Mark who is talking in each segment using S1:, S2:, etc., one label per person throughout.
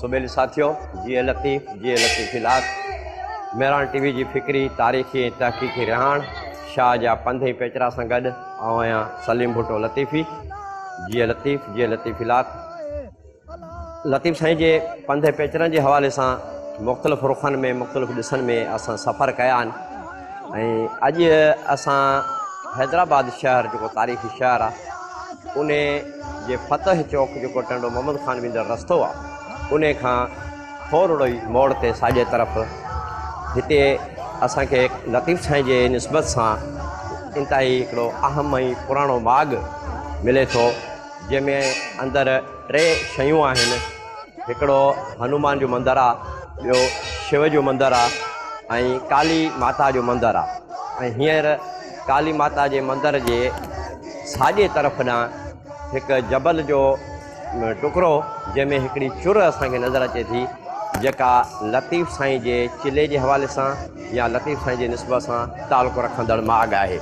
S1: سبيل ساٿيو جيئي لطيف جيئي لطيفي لاک مهراڻ ٽي وي جي فڪري تاريخي ۽ تحقيقي رهاڻ شاهه جا پنڌ ۽ پيچرا سان گڏ آئون آهيان سليم ڀٽو لطيفي جيئي لطيف جيئي لطيفي لاک لطيف سائين جي پنڌ ۽ پيچرن جي حوالي سان مختلف رخن ۾ مختلف ڏسن ۾ اسان سفر ڪيا آهن اڄ اسان حيدرآباد شهر جيڪو تاريخي شهر آ ان جي فتح چوڪ جيڪو ٽنڊو محمد خان ويندڙ رستو آ ان کان ٿورڙو ئي موڙ تي ساڄي طرف هتي اسان کي لطيف سائين جي نسبت سان انتهائي هڪڙو اهم ۽ پراڻو ماڳ ملي ٿو جنهن ۾ اندر ٽي شيون آهن هڪڙو هنومان جو مندر آ ٻيو شو جو مندر آ ۽ ڪالي ماتا جو مندر آ ۽ هينئر ڪالي ماتا جي مندر جي ساڄي طرف ڏانهن هڪ جبل جو ٽڪرو جنهن ۾ هڪڙي چر اسان کي نظر اچي ٿي جيڪا لطيف سائين جي چلي جي حوالي سان يا لطيف سائين جي نسبت سان تعلق رکندڙ ماڳ آهي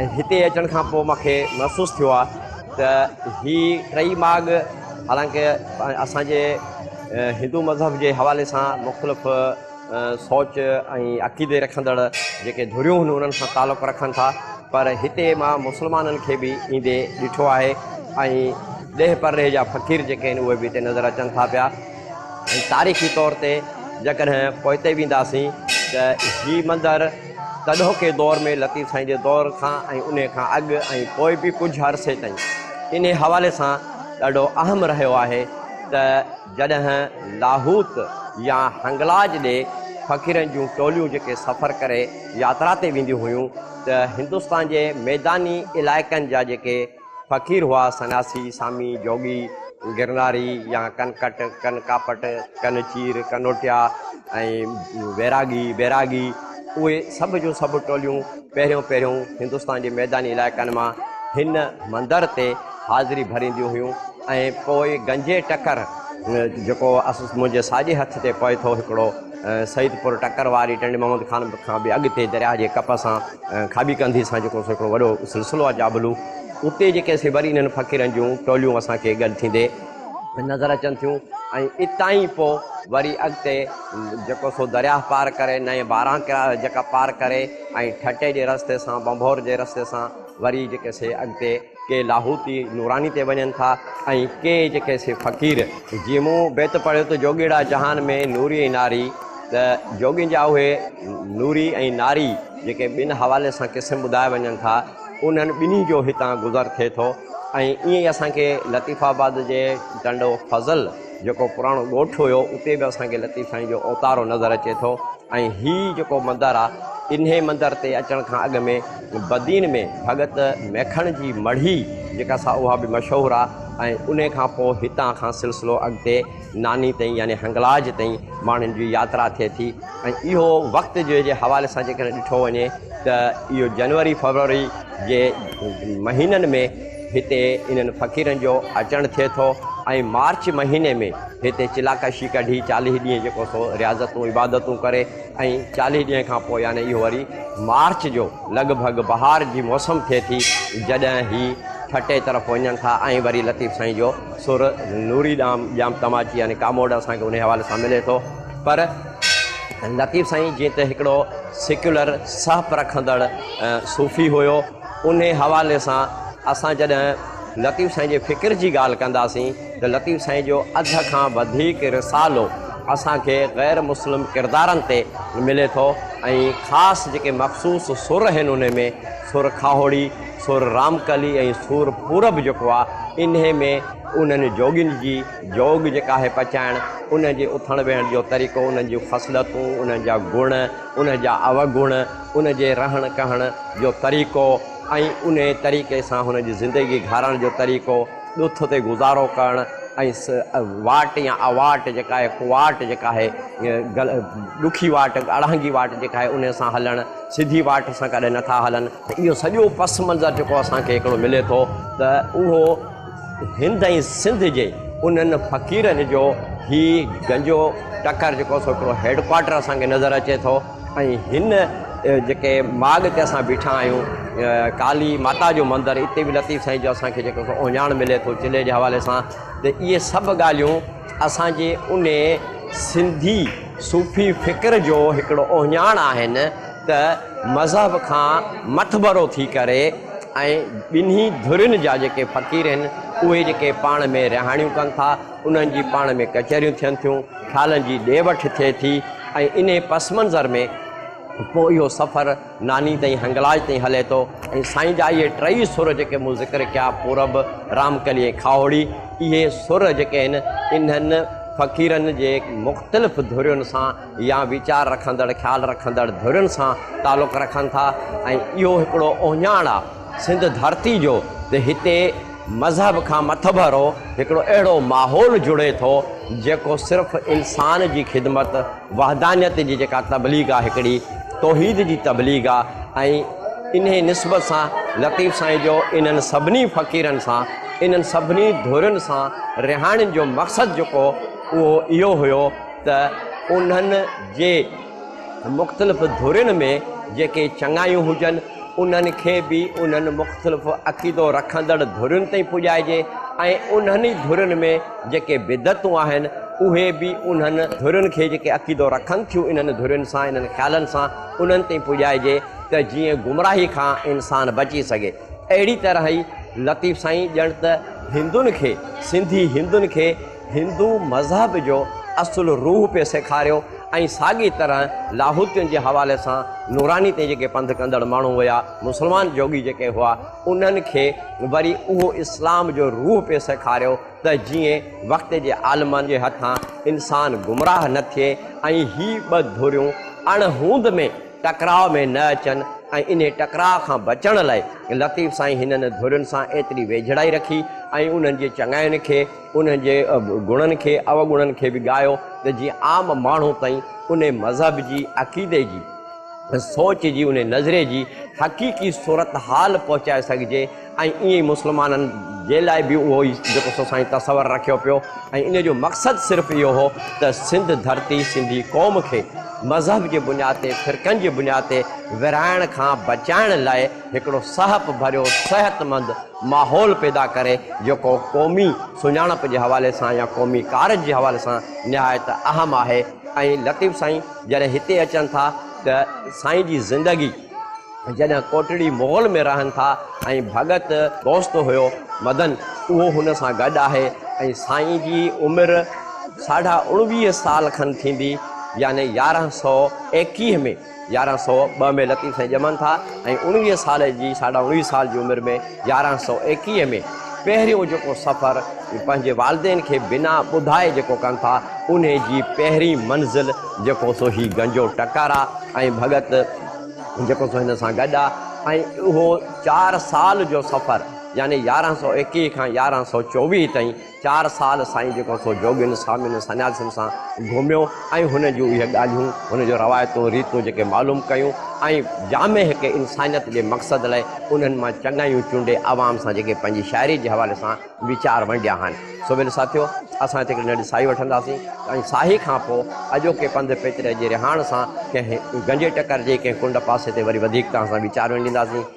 S1: ۽ هتي اچڻ کان پوء مونکي محسوس ٿيو آ ته هي ٽئي ماڳ حالانڪ اسان جي هندو مذهب جي حوالي سان مختلف سوچ ۽ عقيدي رکندڙ جيڪي ڌريون هن انهن سان تعلق رکن ٿا پر هتي مان مسلمانن کي به ايندي ڏٺو آهي ۽ ڏيهه پرڏيهه جا فقير جيڪي آهن اهي به هتي نظر اچن ٿا پيا ۽ تاريخي طور تي جيڪڏهن پوئتي وينداسين ته هي مندر تڏهوڪي دور ۾ لطيف سائين جي دور کان ۽ انهي کان اڳ ۽ پوء به ڪجهه عرصي تائين انهي حوالي سان ڏاڍو اهم رهيو آهي ته جڏهن لاهوت يا هنگلاج ڏي فقيرن جون ٽوليون جيڪي سفر ڪري ياترا تي وينديون هيون ته هندستان جي ميداني علائقن جا جيڪي فقير هئا، سنياسي، سامي، جوڳي، گرناري يا ڪن ڪٽ، ڪن ڪاپٽ، ڪن چير، ڪنوٽيا ۽ ويراڳي، بيراڳي، اهي سڀ جون سڀ ٽوليون پهريون پهريون هندستان جي ميداني علائقن مان هن مندر تي حاضري ڀرينديون هيون ۽ پوء گنجي ٽڪر جيڪو منهنجي ساڄي هٿ تي پوي ٿو هڪڙو سيدپور ٽڪر واري ٽنڊي محمد خان کان به اڳتي درياء جي ڪپ سان کاٻي ڪنڌي سان جيڪو هڪڙو وڏو سلسلو آهي جابلو اتي جيڪي سي وري انهن فقيرن جون ٽوليون اسان کي گڏ ٿيندي نظر اچن ٿيون ۽ اتان ئي پوء وري اڳتي جيڪو سو درياهه پار ڪري نئين باران جيڪا پار ڪري ۽ ٺٽي جي رستي سان بنڀور جي رستي سان وري جيڪي سي اڳتي ڪي لاهوتي نوراني تي وڃن ٿا ۽ ڪي جيڪي سي فقير جي مون بيت پڙهيو ته جوڳيڙا جهان ۾ نوري ۽ ناري ته جوڳين جا اهي نوري ۽ ناري جيڪي ٻن حوالي سان قسم ٻڌايا وڃن ٿا انهن ٻنهي جو هتان گذر ٿئي ٿو ۽ ائين ئي اسان کي لطيف آباد جي ٽنڊو فضل جيڪو پراڻو ڳوٺ هيو اتي به اسان کي لطيف سائين جو اوتارو نظر اچي ٿو ۽ هي جيڪو مندر آ انهي مندر تي اچڻ کان اڳ ۾ بدين ۾ ڀڳت ميکڻ جي مڙهي جيڪا سا اها به مشهور آ ۽ انهي کان پوء هتان کان سلسلو اڳتي ناني تائين يعني هنگلاج تائين ماڻهن جي ياترا ٿئي ٿي ۽ اهو وقت جي جي حوالي سان جيڪڏهن ڏٺو وڃي ته اهو جنوري فرووري جي مهينن ۾ هتي انهن فقيرن جو اچڻ ٿئي ٿو ۽ مارچ مهيني ۾ هتي چلاڪشي ڪڍي چاليهه ڏينهن جيڪو سو رياضتون عبادتون ڪري ۽ چاليهه ڏينهن کان پوء يعني اهو وري مارچ جو لڳ ڀڳ بهار جي موسم ٿئي ٿي جڏهن هي ٺٽي طرف وڃن ٿا ۽ وري لطيف سائين جو سر نوري ڏام ڄام تماچي يعني ڪاموڙ اسان کي ان حوالي سان ملي ٿو پر لطيف سائين جيئن ته هڪڙو سيڪيولر سهپ رکندڙ صوفي هيو انهي حوالي سان اسان جڏهن لطيف سائين جي فڪر جي ڳالهه ڪنداسين ته لطيف سائين جو اڌ کان وڌيڪ رسالو اسان کي غير مسلم ڪردارن تي ملي ٿو ۽ خاص جيڪي مخصوص سر آهن انهي ۾ سر کاهوڙي، سر رام ڪلي ۽ سور پورب جيڪو آهي انهي ۾ انهن جوڳين جي جوڳ جيڪا آهي پچائڻ انهن جي اٿڻ ويهڻ جو طريقو انهن جون خصلتون انهن جا گڻ، ان جا اوگڻ، ان جي رهڻ ڪهڻ جو طريقو ۽ انهي طريقي سان هن جي زندگي گهارڻ جو طريقو، ڏوٿ تي گذارو ڪرڻ ۽ واٽ يا اواٽ جيڪا آهي، ڪواٽ جيڪا آهي، ڏکي واٽ، اڙانگي واٽ جيڪا آهي انهي سان هلڻ، سڌي واٽ سان ڪڏهن نٿا هلن. اهو سڄو پس منظر جيڪو اسان کي هڪڙو ملي ٿو ته اهو هند ۽ سنڌ جي انهن فقيرن جو هي گنجو ٽڪر جيڪو سو هڪڙو هيڊ ڪوارٽر اسان کي نظر اچي ٿو ۽ هن جيڪي ماڳ تي اسان بيٺا آهيون ڪالي ماتا جو مندر اتي به لطيف سائين جو اسان کي جيڪو سو اوهڃاڻ ملي ٿو چلي جي حوالي سان ته اهي سڀ ڳالهيون اسان جي ان سنڌي صوفي فڪر جو هڪڙو اوهڃاڻ آهن ته مذهب کان مٿڀرو ٿي ڪري ۽ ٻنهي ڌرين جا جيڪي فقير آهن اهي جيڪي پاڻ ۾ رهاڻيون ڪن ٿا انهن جي پاڻ ۾ ڪچهريون ٿين ٿيون خيالن جي ڏي وٺ ٿئي ٿي ۽ انهي پس منظر ۾ پوء اهو سفر ناني تائين هنگلاج تائين هلي ٿو ۽ سائين جا اهي ٽئي سر جيڪي مون ذڪر ڪيا پورب رامڪلي ۽ کاهوڙي اهي سر جيڪي آهن انهن فقيرن جي مختلف ڌرين سان يا ويچار رکندڙ، خيال رکندڙ ڌرين سان تعلق رکن ٿا ۽ اهو هڪڙو اهڃاڻ آ سنڌ ڌرتي جو ته هتي مذهب کان مٿڀرو هڪڙو اهڙو ماحول جڙي ٿو جيڪو صرف انسان جي خدمت وحدانيت جي جيڪا تبليغ آ هڪڙي توحيد جي تبليغ آ ۽ انهي نسبت سان لطيف سائين جو انهن سڀني فقيرن سان انهن سڀني ڌرين سان رهاڻين جو مقصد جيڪو اهو اهو هيو ته انهن جي مختلف ڌرين ۾ جيڪي چڱايون هجن، انهن کي به انهن مختلف عقيدو رکندڙ ڌرين تائين پڄائجي ۽ انهن ئي ڌرين ۾ جيڪي بدعتون آهن، اهي به انهن ڌرين کي جيڪي عقيدو رکن ٿيون انهن ڌرين سان، انهن خيالن سان، انهن تائين پڄائجي ته جيئن گمراهي کان انسان بچي سگهي. اهڙي طرح ئي لطيف سائين ڄڻ ته هندن کي، سنڌي هندن کي، هندو مذهب جو اصل روح پئي سيکاريو ۽ ساڳي طرح لاهوتين جي حوالي سان نوراني تي جيڪي پنڌ ڪندڙ ماڻهو هيا، مسلمان جوڳي جيڪي هئا، انهن کي وري اهو اسلام جو روح پئي سيکاريو ته جيئن وقت جي عالمن جي هٿان انسان گمراهه نه ٿئي ۽ هي ٻه ڌريون اڻ هوند ۾ ٽڪراء ۾ نه اچن ۽ انهي ٽڪراء کان بچڻ لاء لطيف سائين هنن ڌرين سان ايتري ويجهڙائي رکي ۽ انهن جي چڱاين کي انهن جي گڻن کي اوگڻن کي به ڳايو ته جيئن عام ماڻهو تائين انهي مذهب جي عقيدي جي سوچ جي انهي نظري جي حقيقي صورتحال پهچائي سگهجي ۽ ايئن مسلمانن جي لاء به اهو ئي جيڪو سو سائين تصور رکيو پيو ۽ ان جو مقصد صرف اهو هو ته سنڌ ڌرتي سنڌي قوم کي مذهب جي بنياد تي فرقن جي بنياد تي ورهائڻ کان بچائڻ لاء هڪڙو سهپ ڀريو صحتمند ماحول پيدا ڪري جيڪو قومي سڃاڻپ جي حوالي سان يا قومي ڪارج جي حوالي سان نهايت اهم آهي ۽ لطيف سائين جڏهن هتي اچن ٿا ته سائين جي زندگي جڏهن ڪوٽڙي مغل ۾ رهن ٿا ۽ ڀڳت دوست هيو مدن اهو هن سان گڏ آهي ۽ سائين جي عمر ساڍا اڻويهه سال کن ٿيندي يعني يارهن سؤ ايڪيهه ۾ يارهن سؤ ٻه ۾ لطيف سائين ڄمن ٿا ۽ اڻويهه سال جي ساڍا اڻويهه سال جي عمر ۾ يارهن سؤ ايڪيهه ۾ پهريون جيڪو سفر پنهنجي والدين کي بنا ٻڌائي جيڪو ڪن ٿا انهي جي پهرين منزل جيڪو سو هي گنجو ٽڪر آ ۽ ڀڳت جيڪو سو هن سان گڏ آ ۽ اهو چار سال جو سفر يعني يارهن سؤ ايڪيهه کان يارهن سؤ چوويهه تائين چار سال سائين جيڪو سو جوڳين، سوامين، سنياسين سان گهميو ۽ هن جون اهي ڳالهيون، هن جون روايتون، ريتون جيڪي معلوم ڪيون ۽ جامع هڪ انسانيت جي مقصد لاء انهن مان چڱايون چونڊي عوام سان جيڪي پنهنجي شاعري جي حوالي سان ويچار ونڊيا آهن سو ويل ساٿيو اسان هتي هڪڙي ننڍي ساهي وٺنداسين ۽ ساهي کان پوء اڄوڪي پنڌ پيچري جي رهاڻ سان ڪنهن گنجي ٽڪر جي ڪنهن ڪنڊ پاسي تي وري وڌيڪ توهان سان ويچار ونڊينداسين.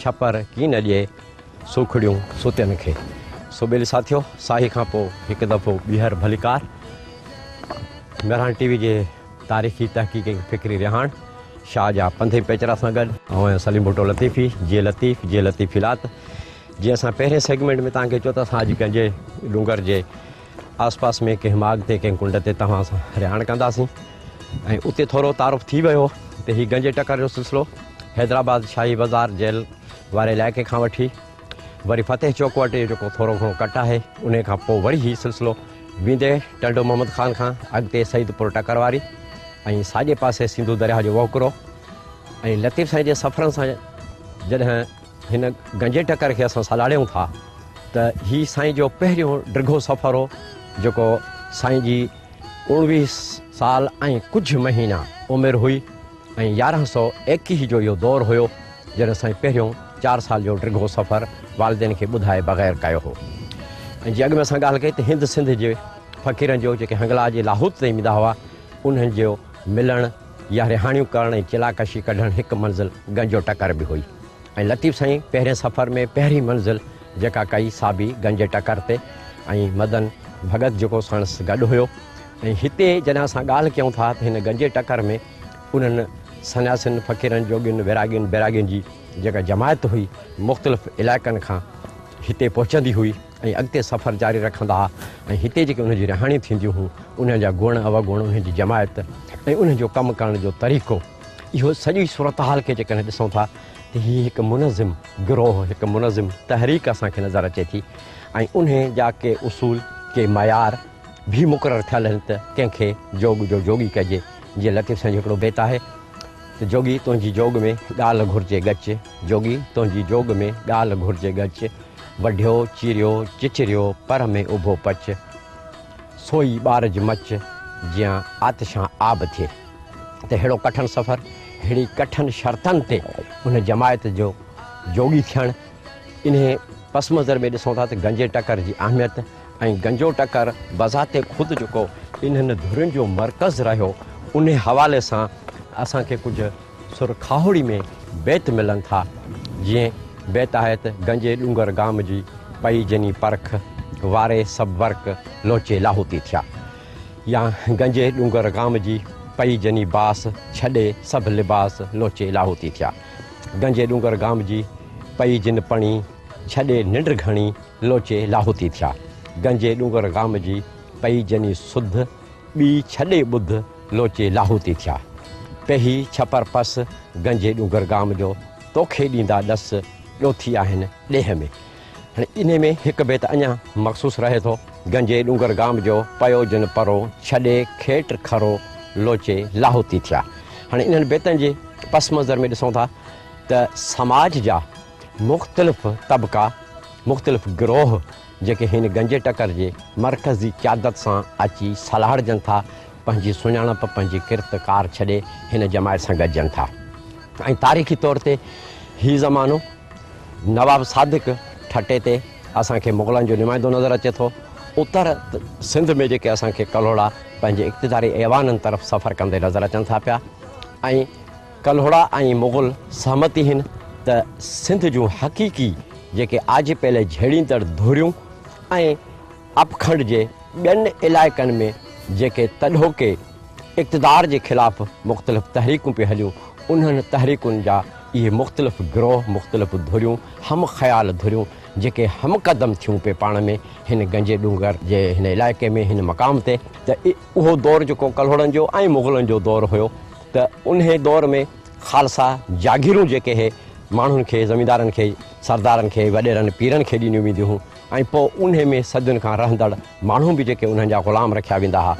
S1: ڇپر ڪين ڏئي سوکڙيون ستين کي. سو ٻيلي ساٿيو ساهي کان پوء هڪ دفعو ٻيهر ڀليڪار. مهراڻ ٽي وي جي تاريخي تحقيق ۽ فڪري رهاڻ شاهه جا پنڌي پيچرا سان گڏ آئون آهيان سليم ڀٽو لطيفي جي لطيف جي لطيفيلات جي اسان پهرين سيگمينٽ ۾ توهان کي چيو ته اسان اڄ ڪنهن جي ڏونگر جي آس پاس ۾ ڪنهن ماڳ تي ڪنهن ڪنڊ تي توهان سان رهاڻ ڪنداسين ۽ اتي ٿورو تعارف ٿي ويو ته هي گنجي ٽڪر جو سلسلو حيدرآباد شاهي بازار جيل واري علائقي کان وٺي وري فتح چوڪ وٽ جيڪو ٿورو گهڻو ڪٽ آهي ان کان پوء وري هي سلسلو ويندي ٽنڊو محمد خان کان اڳتي سعيد پور ٽڪر واري ۽ ساڄي پاسي سنڌو درياهه جو وهڪرو ۽ لطيف سائين جي سفرن سان جڏهن هن گنجي ٽڪر کي اسان سڏاڙيون ٿا ته هي سائين جو پهريون ڊگهو سفر هو جيڪو سائين جي اوڻويهه سال ۽ ڪجهه مهينا عمر هئي ۽ يارهن سؤ ايڪيهه جو اهو دور هيو جڏهن سائين پهريون چار سال جو ڊگهو سفر والدين کي ٻڌائي بغير ڪيو هو ۽ جي اڳ ۾ اسان ڳالهه ڪئي ته هند سنڌ جي فقيرن جو جيڪي هنگلا جي لاهوت تي ايندا هئا انهن جو ملڻ يا رهاڻيون ڪرڻ ۽ چلا ڪشي ڪڍڻ هڪ منزل گنجو ٽڪر به هئي ۽ لطيف سائين پهرين سفر ۾ پهرين منزل جيڪا ڪئي سا به گنجي ٽڪر تي ۽ مدن ڀڳت جيڪو ساڻس گڏ هيو ۽ هتي جڏهن اسان ڳالهه ڪيون ٿا ته هن گنجي ٽڪر ۾ انهن سنياسين فقيرن جوڳين ويراڳين بيراڳين جي جيڪا جماعت هئي مختلف علائقن کان هتي پهچندي هئي. ۽ اڳتي سفر جاري رکندا ۽ هتي جيڪي انهن جون رهاڻيون ٿينديون هيون انهن جا گڻ اوگڻ انهن جي جماعت ۽ انهن جو ڪم ڪرڻ جو طريقو اهو سڄي صورتحال کي جيڪڏهن ڏسون ٿا ته هي هڪ منظم گروهه هڪ منظم تحريڪ اسان کي نظر اچي ٿي ۽ انهي جا ڪي اصول ڪي معيار به مقرر ٿيل آهن ته ڪنهن کي جوڳ جو جوڳي ڪجي جيئن لطيف سائين جو هڪڙو بيت آهي ته جوڳي تنهنجي جوڳ ۾ ڳالهه گهرجي ڳچ جوڳي تنهنجي جوڳ ۾ ڳالهه گهرجي ڳچ وڍيو چيريو چچريو پر ۾ اڀو پچ سوئي ٻارج مچ جيان آتشان آب ٿئي ته ههڙو ڪٺن سفر ههڙي ڪٺن شرطن تي ان جماعت جو جوڳي ٿيڻ انهي پس منظر ۾ ڏسون ٿا ته گنجي ٽڪر جي اهميت ۽ گنجو ٽڪر بذات خود جيڪو انهن ڌرين جو مرڪز رهيو انهي حوالي سان اسان کي ڪجهه سر کاهوڙي ۾ بيت ملن ٿا جيئن بيت آهي ته گنجي ڏونگر گام جي پئي جني پرک واري سڀ ورق لوچي لاهوتي ٿيا يا گنجي ڏونگر گام جي پئي جني باس ڇڏي سڀ لباس لوچي لاهوتي ٿيا گنجي ڏونگر گام جي پئي جن پڻي ڇڏي ننڊ گهڻي لوچي لاهوتي ٿيا، گنجي ڏونگر گام جي، پئي جني سڌ، ٻي ڇڏي ٻڌ، لوچي لاهوتي ٿيا. پيهي ڇپر پس، گنجي ڏونگر گام جو، توکي ڏيندا ڏس، ڏوٿي آهن ڏيهه ۾. هاڻي انهي ۾ هڪ بيت اڃا مخصوص رهي ٿو، گنجي ڏونگر گام جو، پيو جن پرو، ڇڏي کيٽ کرو، لوچي لاهوتي ٿيا. هاڻي انهن بيتن جي پس منظر ۾ ڏسون ٿا ته سماج جا، مختلف طبقا، مختلف گروهه جيڪي هن گنجي ٽڪر جي مرڪزي قيادت سان اچي سلهاڙجن ٿا، پنهنجي سڃاڻپ، پنهنجي ڪرت ڪار ڇڏي هن جماعت سان گڏجن ٿا ۽ تاريخي طور تي هي زمانو نواب صادق ٺٽي تي اسان کي مغلن جو نمائندو نظر اچي ٿو. اتر سنڌ ۾ جيڪي اسان کي ڪلهوڙا پنهنجي اقتداري ايوانن طرف سفر ڪندي نظر اچن ٿا پيا ۽ ڪلهوڙا ۽ مغل سهمتي هن ته سنڌ جون حقيقي جيڪي آجي پيلي جهيڙيندڙ ڌريون ۽ اپکنڊ جي ٻين علائقن ۾ جيڪي تڏهوڪي اقتدار جي خلاف مختلف تحريڪون پي هليون انهن تحريڪن جا اهي مختلف گروه مختلف ڌريون هم خيال ڌريون جيڪي هم قدم ٿيون پي پاڻ ۾ هن گنجي ڏونگر جي هن علائقي ۾ هن مقام تي ته اهو دور جيڪو ڪلهوڙن جو ۽ مغلن جو دور هيو ته انهي دور ۾ خالصا جاگيرون جيڪي هي ماڻهن کي زميندارن کي سردارن کي وڏيرن پيرن کي ڏنيون وينديون هيون ۽ پوء انهي ۾ صدين کان رهندڙ ماڻهو به جيڪي انهن جا غلام رکيا ويندا ها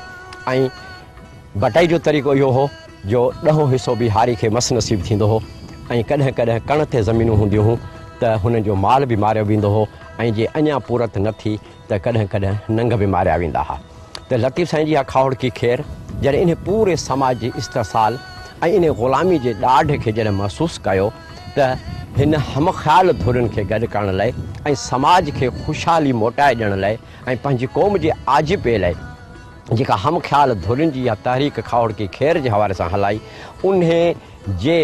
S1: ۽ بٽائي جو طريقو اهو هو جو ڏهون حصو به هاري کي مس نصيب ٿيندو هو ۽ ڪڏهن ڪڏهن ڪڻ تي زمينون هونديون هون ته هنن جو مال به ماريو ويندو هو ۽ جي اڃا پورت نه ٿي ته ڪڏهن ڪڏهن ننگ به ماريا ويندا ها ته لطيف سائين جي اها کاهوڙڪي کير جڏهن انهي پوري سماج جي استحصال ۽ انهي غلامي جي ڏاڍ کي جڏهن محسوس ڪيو ته هن هم خيال ڌرين کي گڏ ڪرڻ لئي ۽ سماج کي خوشحالي موٽائي ڏيڻ لئي ۽ پنهنجي قوم جي آجپي لئي جيڪا هم خيال ڌرين جي اها تحريڪ کاهوڙڪي کير جي حوالي سان هلائي انهي جي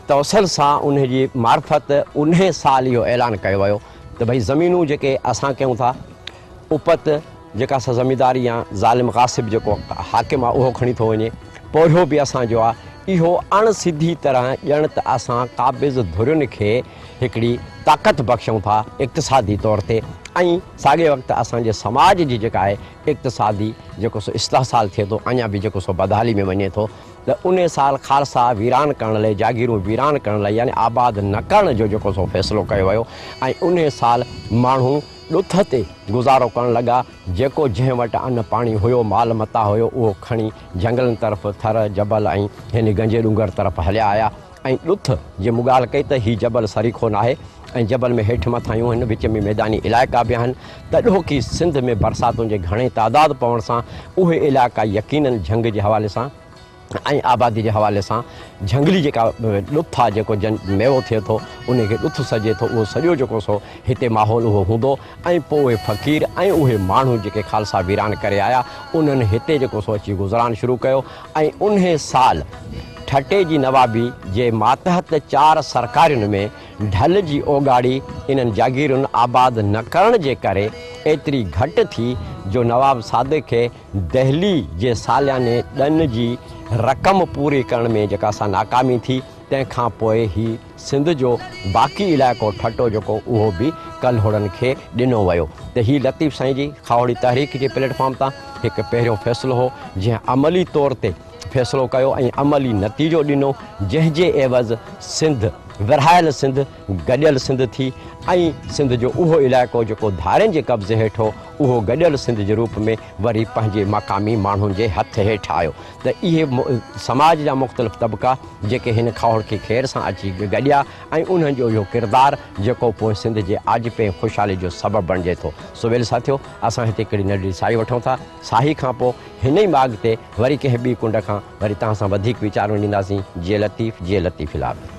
S1: توسل سان انهي جي معرفت انهي سال اهو اعلان ڪيو ويو ته ڀئي زمينون جيڪي اسان ڪيون ٿا اپت جيڪا سا زمينداري يا ظالم غاصب جيڪو حاڪم آ اهو کڻي ٿو وڃي پورهيو به اسان جو آ اهو اڻ سڌي طرح ڄڻ ته اسان قابض ڌرين کي هڪڙي طاقت بخشون ٿا اقتصادي طور تي ۽ ساڳي وقت اسان جي سماج جي جيڪا آهي اقتصادي جيڪو سو استحصال ٿئي ٿو اڃا به جيڪو سو بدحالي ۾ وڃي ٿو ته ان سال خالصا ويران ڪرڻ لئي جاگيرون ويران ڪرڻ لئي يعني آباد نه ڪرڻ جو جيڪو سو فيصلو ڪيو ويو ۽ ان سال ماڻهو ڏٿ تي گذارو ڪرڻ لڳا جيڪو جنهن وٽ ان پاڻي هيو مال متاع هيو اهو کڻي جهنگلن طرف ٿر جبل ۽ هن گنجي ڏونگر طرف هليا آيا ۽ ڏٿ، جي مون ڳالهه ڪئي ته هي جبل سريخو ناهي ۽ جبل ۾ هيٺ مٿاهيون هن وچ ۾ ميداني علائقا به آهن ته ڏوهڪي سنڌ ۾ برساتن جي گهڻي تعداد پوڻ سان اهي علائقا يقينن جهنگ جي حوالي سان ۽ آبادي جي حوالي سان جهنگلي جيڪا ڏٿ آهي جيڪو جن ميوو ٿئي ٿو انهي کي ڏٿ سڏجي ٿو اهو سڄو جيڪو سو هتي ماحول اهو هوندو ۽ پوء اهي فقير ۽ اهي ماڻهو جيڪي خالصا ويران ڪري آيا انهن هتي جيڪو سو اچي گذران شروع ڪيو ۽ انهيء سال ٺٽي جي نوابي جي ماتحت چار سرڪارين ۾ ڍل جي اوڳاڙي انهن جاگيرن آباد نه ڪرڻ جي ڪري ايتري گهٽ ٿي جو نواب صادق کي دهلي جي سالياني ڏن جي رقم پوري ڪرڻ ۾ جيڪا سا ناڪامي ٿي تنهن کان پوء هي سنڌ جو باقي علائقو ٺٽو جيڪو اهو به ڪلهوڙن کي ڏنو ويو ته هي لطيف سائين جي کاهوڙي تحريڪ جي پليٽ فارم تان هڪ پهريون فيصلو هو جنهن عملي طور تي فيصلو ڪيو ۽ عملي نتيجو ڏنو جنهن جي عيوض سنڌ ورهايل سنڌ گڏيل سنڌ ٿي ۽ سنڌ جو اهو علائقو جيڪو ڌارين جي قبضي هيٺ هو اهو گڏيل سنڌ جي روپ ۾ وري پنهنجي مقامي ماڻهن جي هٿ هيٺ آيو ته اهي سماج جا مختلف طبقا جيڪي هن کهوڙ کي خير سان اچي گڏيا ۽ انهن جو اهو ڪردار جيڪو پوء سنڌ جي آجپي ۽ خوشحالي جو سبب بڻجي ٿو سو ويل ساٿيو اسان هتي ڪڙي ننڍڙي ساهي وٺون ٿا ساهي کان پوء هن ئي ماڳ تي وري ڪنهن ٻي ڪنڊ کان وري توهان سان وڌيڪ ويچار وڃينداسين جي لطيف جي لطيف الاهي.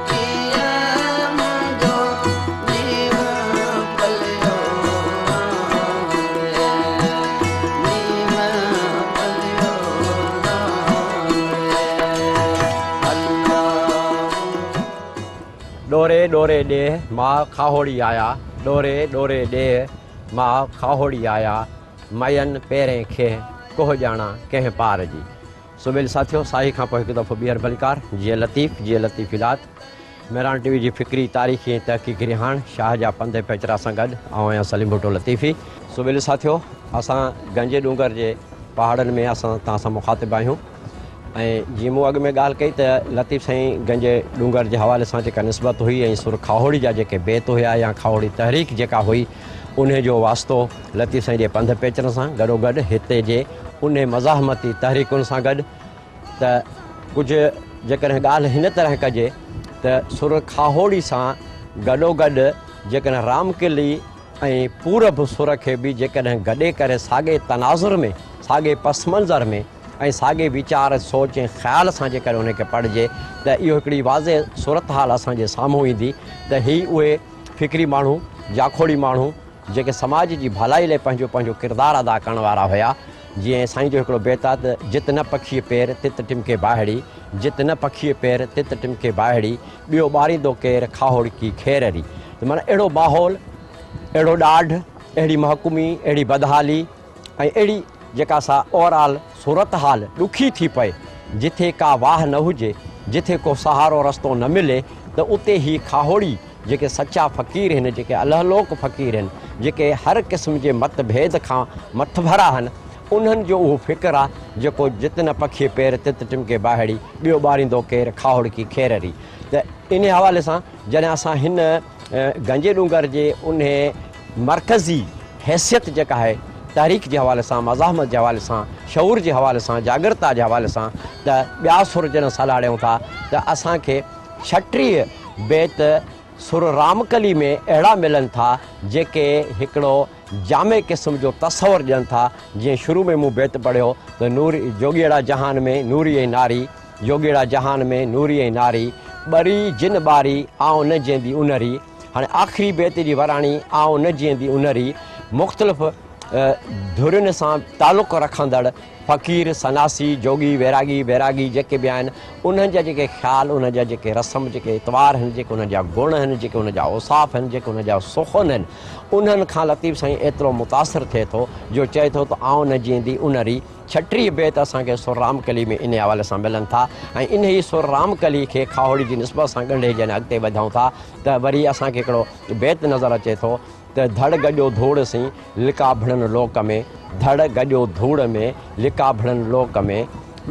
S1: ڏوري ڏوري ڏيهه ماء کاهوڙي آيا ڏوري ڏوري ڏيهه ماء کاهوڙي آيا مئين پيرين کيهه ڪوهه ڄاڻان ڪنهن پار جي سويل ساٿيو ساهي کان پوء هڪ دفعو ٻيهر بنڪار جيئي لطيف جيئي لطيف الات مهراڻ ٽي وي جي فڪري تاريخي ۽ تحقيقي رهاڻ شاهه جا پنڌ پيچرا سان گڏ آئون آهيان سليم ڀٽو لطيفي. سويل ساٿيو اسان گنجي ڏونگر جي پهاڙن ۾ اسان توهان سان مخاطب آهيون ۽ جيئن مون اڳ ۾ ڳالهه ڪئي ته لطيف سائين گنجي ڏونگر جي حوالي سان جيڪا نسبت هئي ۽ سر کاهوڙي جا جيڪي بيت هيا يا کاهوڙي تحريڪ جيڪا هئي انهيء جو واسطو لطيف سائين جي پنڌ پيچرن سان گڏوگڏ هتي جي انهي مزاحمتي تحريڪن سان گڏ ته ڪجهه جيڪڏهن ڳالهه هن طرح ڪجي ته سر کاهوڙي سان گڏوگڏ جيڪڏهن رام ڪلي ۽ پورب سر کي به جيڪڏهن گڏي ڪري ساڳئي تناظر ۾ ساڳئي پس منظر ۾ ۽ ساڳئي ويچار سوچ ۽ خيال سان جيڪڏهن انهيء کي پڙهجي ته اهو هڪڙي واضح صورتحال اسان جي سامهون ايندي ته هي اهي فڪري ماڻهو، جاکوڙي ماڻهو، جيڪي سماج جي ڀلائي لاء پنهنجو پنهنجو ڪردار ادا ڪرڻ وارا هيا. جيئن سائين جو هڪڙو بيت آهي ته، جت نه پکيء پير، تت ٽمڪي باهڙي، جت نه پکيء پير، تت ٽمڪي باهڙي، ٻيو ٻاريندو ڪير، کاهوڙڪي کير ري. ته معنيٰ اهڙو ماحول، اهڙو ڏاڍ، اهڙي محڪومي، اهڙي بدحالي، ۽ اهڙي جيڪا سا اوورآل صورتحال ڏکي ٿي پئي، جٿي ڪا واهه نه هجي، جٿي ڪو سهارو رستو نه ملي ته اتي هي کاهوڙي جيڪي سچا فقير هن جيڪي الهلوڪ فقير هن جيڪي هر قسم جي مت ڀيد کان مٿڀرا هن انهن جو اهو فڪر آ جيڪو جت نه پکي پير تت ٽمڪي ٻاهڙي ٻيو ٻاريندو ڪير کاهوڙڪي کيرري ته انهي حوالي سان جڏهن اسان هن گنجي ڏونگر جي انهي مرڪزي حيثيت جيڪا آهي تحريڪ جي حوالي سان، مزاحمت جي حوالي سان، شعور جي حوالي سان، جاڳرتا جي حوالي سان ته ٻيا سر جڏهن سلهاڙيون ٿا ته اسان کي ڇٽيهه بيت سر رامڪلي ۾ اهڙا ملن ٿا جيڪي هڪڙو جامع قسم جو تصور ڏين ٿا جيئن شروع ۾ مون بيت پڙهيو ته نور جوڳيئڙا جهان ۾ نوري ۽ ناري جوڳيئڙا جهان ۾ نوري ۽ ناري، ٻري جن ٻاري، آئون نه جيئندي اونهري. هاڻي آخري بيت جي وراڻي، آئون نه جيئندي اونهري، مختلف ڌرين سان تعلق رکندڙ فقير، سناسي، جوڳي، ويراڳي، بيراڳي جيڪي به آهن، انهن جا جيڪي خيال، انهن جا جيڪي رسم، جيڪي اطوار آهن، جيڪي انهن جا گڻ آهن، جيڪي انهن جا اوصاف آهن، جيڪي انهن جا سخن آهن، انهن کان لطيف سائين ايترو متاثر ٿئي ٿو، جو چئي ٿو ته آئون نه جيئندي اونهري. ڇٽيهه بيت اسان کي سر رام ڪلي ۾ انهي حوالي سان ملن ٿا ۽ انهي سر رام ڪلي کي کاهوڙي جي نسبت سان ڳنڍي جڏهن اڳتي وڌون ٿا ته وري اسان کي هڪڙو بيت نظر اچي ٿو ته ڌڙ گڏيو ڌوڙ سين لڪا ڀڙن لوڪ ۾، ڌڙ گڏيو ڌوڙ ۾، لڪا ڀڙن لوڪ ۾،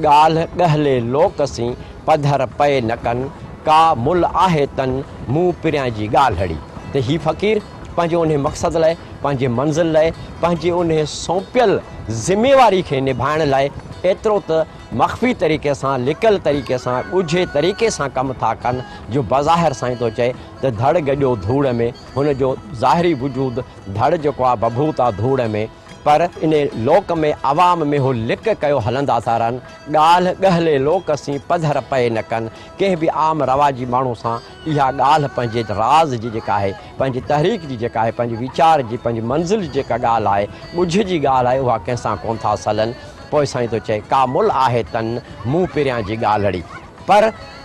S1: ڳالهه ڳهلي لوڪ سين، پڌر پئي نه ڪن، ڪا مل آهي تن، مون پريان جي ڳالهڙي. ته هي فقير. پنهنجي انهي مقصد لاء، پنهنجي منزل لاء، پنهنجي انهي سونپيل ذميواري کي نڀائڻ لاء ايترو ته مخفي طريقي سان، لڪل طريقي سان، ڳجهي طريقي سان ڪم ٿا ڪن جو بظاهر سائين ٿو چئي ته ڌڙ گڏيو ڌوڙ ۾، هن جو ظاهري وجود ڌڙ جيڪو آ ڀڀوت آ ڌوڙ ۾، پر انهي لوڪ ۾ عوام ۾ هو لڪ ڪيو هلندا ٿا رهن، ڳالهه ڳهلي لوڪ سين پڌر پئي نه ڪن، ڪنهن به عام رواجي ماڻهو سان اها ڳالهه پنهنجي راز جي جيڪا آهي، پنهنجي تحريڪ جي جيڪا آهي، پنهنجي ويچار جي، پنهنجي منزل جي جيڪا ڳالهه آهي، ڳجهه جي ڳالهه آهي، اها ڪنهن سان ڪونه ٿا سلن. پوء سائين ٿو چئي، ڪا ملهه آهي تن مون پريان جي ڳالهڙي. پر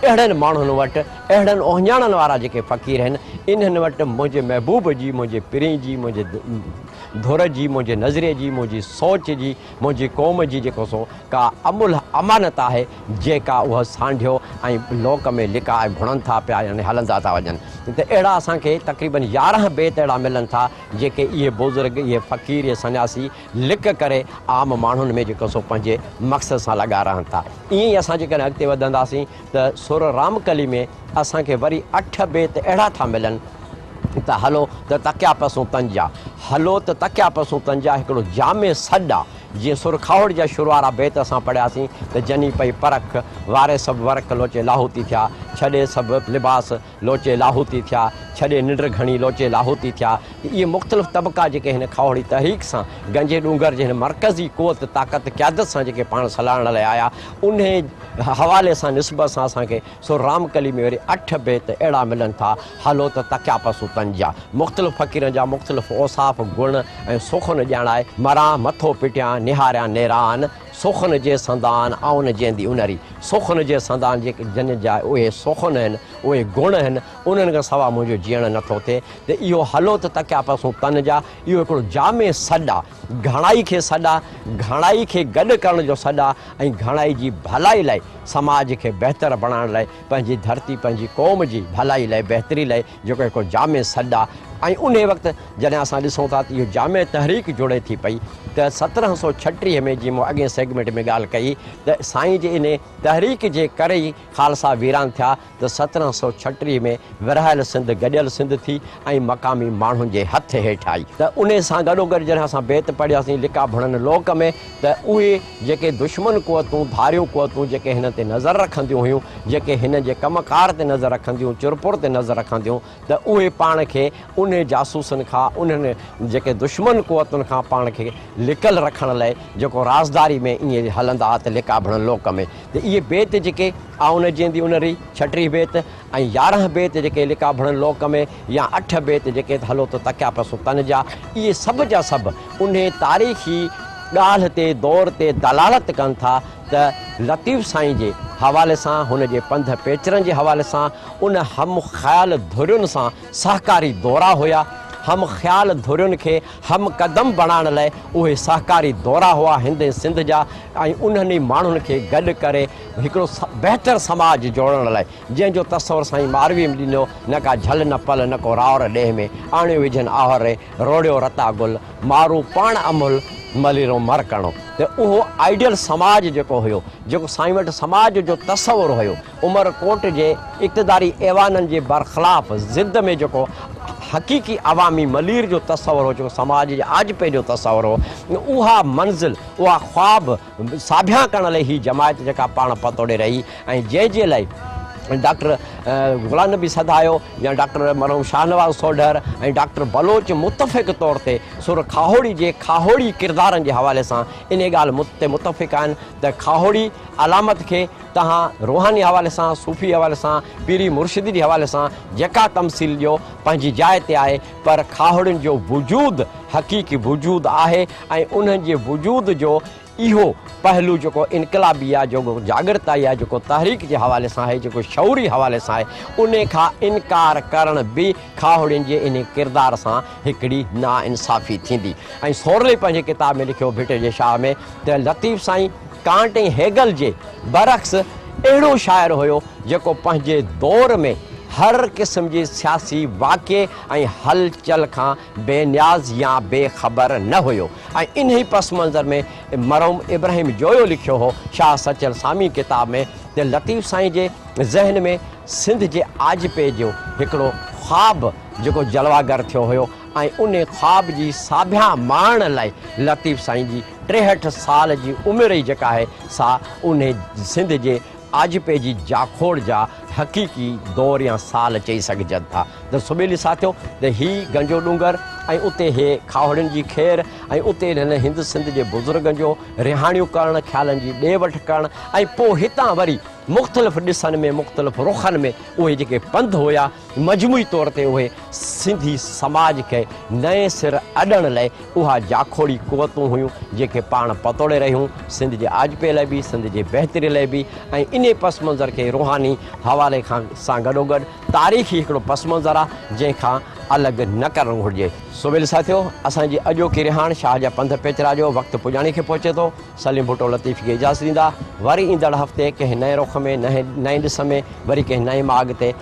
S1: اهڙن ماڻهن وٽ، اهڙن اهڃاڻن وارا جيڪي فقير آهن، انهن وٽ منهنجي محبوب جي، منهنجي پرين جي، منهنجي ڌر جي، منهنجي نظريي جي، منهنجي سوچ جي، منهنجي قوم جي جيڪو سو ڪا املهه امانت آهي، جيڪا اهو سانڍيو ۽ لوڪ ۾ لڪا ۽ ڀڻن ٿا پيا يعني هلندا ٿا وڃن ته اهڙا اسان کي تقريبن يارهن بيت اهڙا ملن ٿا جيڪي اهي بزرگ، اهي فقير، اهي سنياسي لڪ ڪري عام ماڻهن ۾ جيڪو سو پنهنجي مقصد سان لڳا رهن ٿا. ائين ئي اسان جيڪڏهن اڳتي وڌنداسين ته سر رام ڪلي ۾ اسان کي وري اٺ بيت اهڙا ٿا ملن ته هلو ته تڪيا پسون تن جا، هلو ته تڪيا پسون تن جا هڪڙو جامع سڏ آ، جيئن سر کاهوڙ جا شروع وارا بيت اسان پڙهياسين ته جني پئي پرک، واري سڀ ورق لوچي لاهوتي ٿيا، ڇڏي سڀ لباس، لوچي لاهوتي ٿيا، ڇڏي ننڊ گهڻي لوچي لاهوتي ٿيا ته اهي مختلف طبقا جيڪي هن کهوڙي تحريڪ سان گنجي ڏونگر جي هن مرڪزي قوت طاقت قيادت سان جيڪي پاڻ سلهاڙڻ لاء آيا انهي حوالي سان نسبت سان اسان کي سو رام ڪلي ۾ وري اٺ بيت اهڙا ملن ٿا هلو ته تڪيا پسون تن جا مختلف فقيرن جا مختلف اوصاف گڻ ۽ سخن ڄاڻائي مران مٿو پٽيان نهاريان نيران سخن جي سندان آن جيندي انري، سخن جي سندان جي جن جا اهي سخن هن، اهي گڻ هن، انهن کان سوا منهنجو جيئڻ نه ٿو ٿئي ته اهو هلو ته تڪيا پسون تن جا، اهو هڪڙو جامع سڏ آ، گهڻائي کي سڏ آ، گهڻائي کي گڏ ڪرڻ جو سڏ آ ۽ گهڻائي جي ڀلائي لاء، سماج کي بهتر بڻائڻ لاء، پنهنجي ڌرتي، پنهنجي قوم جي ڀلائي لاء، بهتري لاء، جيڪو هڪ جامع سڏ آهي ۽ انهي وقت جڏهن اسان ڏسون ٿا ته اهو جامع تحريڪ جڙي ٿي پئي ته سترهن سؤ ڇٽيهه ۾ جيئن مون اڳين سيگمينٽ ۾ ڳالهه ڪئي ته سائين جي انهي تحريڪ جي ڪري ئي خالصا ويران ٿيا ته سترهن سؤ ڇٽيهه ۾ ورهايل سنڌ گڏيل سنڌ ٿي ۽ مقامي ماڻهن جي هٿ هيٺ آئي ته انهي سان گڏوگڏ جڏهن اسان بيت پڙهياسين لڪا ڀڻن لوڪ ۾ ته اهي جيڪي دشمن قوتون، ڌاريون قوتون جيڪي هن تي نظر رکنديون هيون، جيڪي هن جي ڪم ڪار تي نظر رکنديون، چرپر تي نظر رکنديون ته اهي پاڻ کي انهي جاسوسن کان، انهن جيڪي دشمن قوتن کان پاڻ کي لڪل رکڻ لئي جيڪو رازداري ۾ ائين هلندا ته لڪابڻ لوڪ ۾. ته اهي بيت جيڪي آئون نه جيندي ان ري، ڇٽيهين بيت، ۽ يارهن بيت جيڪي لڪا ڀڻن لوڪ ۾، يا اٺ بيت جيڪي ته هلو ته تڪيا پسون تن جا، اهي سڀ جا سڀ انهي تاريخي ڳالهه تي، دور تي دلالت ڪن ٿا ته لطيف سائين جي حوالي سان، هن جي پنڌ پيچرن جي حوالي سان، ان هم خيال ڌرين سان سهڪاري دورا هيا، هم خيال ڌرين کي هم قدم بڻائڻ لاء اهي سهڪاري دورا هئا هندي سنڌ جا ۽ انهن ئي ماڻهن کي گڏ ڪري، هڪڙو بهتر سماج جوڙڻ لاء جنهن جو تصور سائين مارويء ۾ ڏنو، نه ڪا جهل نه پل نه ڪو راور ڏيهه ۾ آڻيو وجهن آهر ري، روڙيو رتا گل، مارو پاڻ امهل، مليرو مر ڪڻو ته اهو آئيڊيل سماج جيڪو هيو، جيڪو سائين وٽ سماج جو تصور هيو، عمر ڪوٽ جي اقتداري ايوانن جي برخلاف ضد ۾ جيڪو حقيقي عوامي ملير جو تصور هو، جيڪو سماج جي آجپي جو تصور هو، اها منزل، اها خواب، ساڀيان ڪرڻ لئي هي جماعت جيڪا پاڻ پتوڙي رهي ۽ جنهن جي لاء ڊاڪٽر غلام نبي سدايو يا ڊاڪٽر مرحوم شاهنواز سوڍر ۽ ڊاڪٽر بلوچ متفق طور تي سر کاهوڙي جي کاهوڙي ڪردارن جي حوالي سان انهي ڳالهه تي متفق آهن ته کاهوڙي علامت کي توهان روحاني حوالي سان صوفي حوالي سان پيري مرشدي جي حوالي سان جيڪا تمثيل ڏيو پنهنجي جاء تي آهي پر کاهوڙين جو وجود حقيقي وجود آهي ۽ انهن جي وجود جو اهو پهلو جيڪو انقلابي آهي، جيڪو جاڳرتائي آهي، جيڪو تحريڪ جي حوالي سان آهي، جيڪو شعوري حوالي سان آهي، ان کان انڪار ڪرڻ به کاهوڙين جي انهي ڪردار سان هڪڙي ناانصافي ٿيندي ۽ سورلي پنهنجي ڪتاب ۾ لکيو ڀٽي جي شاهه ۾ ته لطيف سائين! ڪانٽ ۽ هيگل جي برعڪس اهڙو شاعر هيو جيڪو پنهنجي دور ۾ هر قسم جي سياسي واقعي ۽ هل چل کان بي نياز يا بي خبر نه هيو ۽ انهي پس منظر ۾ مرحوم ابراهيم جويو لکيو هو شاهه سچل سامي ڪتاب ۾ ته لطيف سائين جي ذهن ۾ سنڌ جي آجپي جو هڪڙو خواب جيڪو جلواگر ٿيو هيو ۽ انهي خواب جي ساڀيان ماڻڻ لاء لطيف سائين جي ٽيهٺ سال جي عمر ئي جيڪا آهي سا انهي سنڌ جي آجپي جي جاکوڙ جا حقيقي دور يا سال چئي سگهجن ٿا ته سبيلي ساٿيو ته هي گنجو ڏونگر ۽ اتي هي کاهوڙين جي کير ۽ اتي انهن هند سنڌ جي بزرگن جو رهاڻيون ڪرڻ کيالن جي ڏي وٺ ڪرڻ ۽ پوء هتان وري مختلف ڏسن ۾ مختلف رخن ۾ اهي جيڪي پنڌ هيا مجموعي طور تي اهي سنڌي سماج کي نئين سر اڏڻ لئه اها جاکوڙي قوتون هيون جيڪي پاڻ پتوڙي رهيون سنڌ جي آجپي لئه به سنڌ جي بهتري لئه به ۽ انهي پس منظر کي روحاني حوالي کان سان گڏوگڏ تاريخي هڪڙو پس منظر آ جنهن کان الڳ نه ڪرڻ گهرجي. سويل ساٿيو اسان جي اڄوڪي رهاڻ شاهه جا پنڌ پيچرا جو وقت پڄاڻي کي پهچي ٿو سليم ڀٽو لطيف کي اجازت ڏيندا وري ايندڙ هفتي ڪنهن نئين رخ ۾ نئين ڏس ۾ وري ڪنهن نئين ماڳ تي